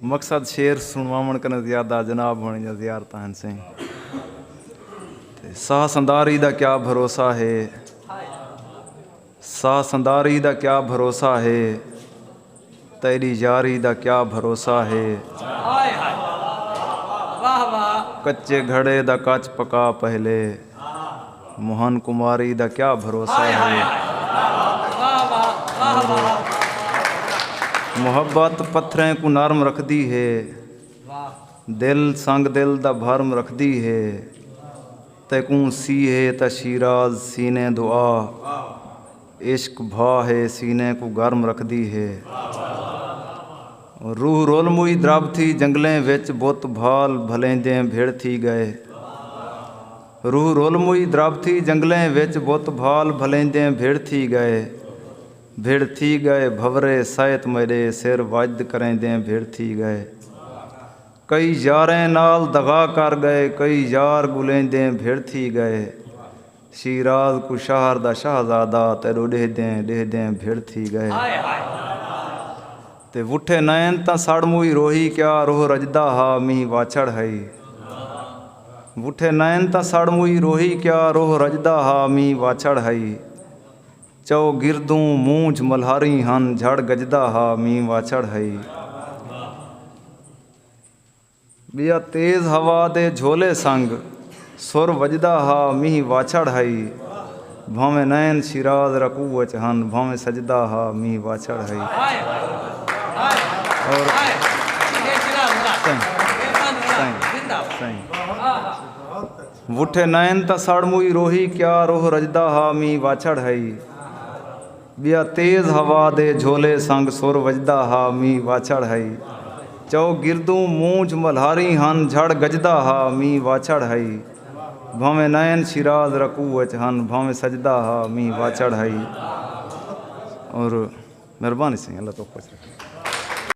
مقصد شعر سنواوݨ کناں زیادہ جناب ہوݨ یا زیارتاں ہن سئیں تے ساہ سنداری دا کیا بھروسہ ہے ساہ سنداری دا کیا بھروسہ ہے تیݙی یاری دا کیا بھروسہ ہے کچے گھڑے دا کچ پکا پہلے موہن کماری دا کیا بھروسہ ہے۔ محبت پتھریں کوں نرم رکھدی ہے۔ دل سنگ دل دا بھرم رکھدی ہے۔ تیکوں سی ہے تاں شیراز سینے دو آ۔ عشق بھا ہے سینے کوں گرم رکھدی ہے روح رول موئی درب تھی جنگلیں وچ بت بھال بھلیندیں بھڑ تھی گئے روح رول موئی درب تھی جنگلیں وچ بت بھال بھلیندیں بھڑ تھی گئے بھڑ تھی گئے بھورے سیت میڈے سر وجد کریندیں بھڑ تھی گئے کئی یاریں نال دغا کر گئے کئی یار گلیندیں بھڑ تھی گئے شیراز کوں شہر دا شہزادہ تیڈو ڈیہدیں ڈیہدیں بھڑ تھی گئے تے وٹھے نئن تاں سڑ موئی روہی کیا روہ رجدا ہا مینہ واچھڑ ہئی وٹھے نئن تاں سڑ موئی روہی کیا روہ رجدا ہا مینہ واچھڑ ہئی چؤ گردوں مونجھ ملہریں ہن جھڑ گجدا ہا مینہ واچھڑ ہئی۔ ٻیا تیز ہوا دے جھولے سنگ سر وڄدا ہا مینھ واچھڑ ہئی بھانویں نئن شیراز رکوع اچ ہن بھانویں سجدا ہا مینھ واچھڑ ہئی وٹھے نئن تاں سڑ موئی روہی کیا روہ رڄدا ہا مینھ واچھڑ ہئی۔ ٻیا تیز ہوا دے جھولے سنگ سر وڄدا ہا مینہ واچھڑ ہئی چؤ گردوں مونجھ ملہاری ہن جھڑ گڄدا ہا مینہ واچھڑ ہئی بھانویں نئن شیراز رکوع اچ ہن بھانویں سجدا ہا مینہ واچھڑ ہئی اور مہربانی سئیں اللہ توک خوش رکھے۔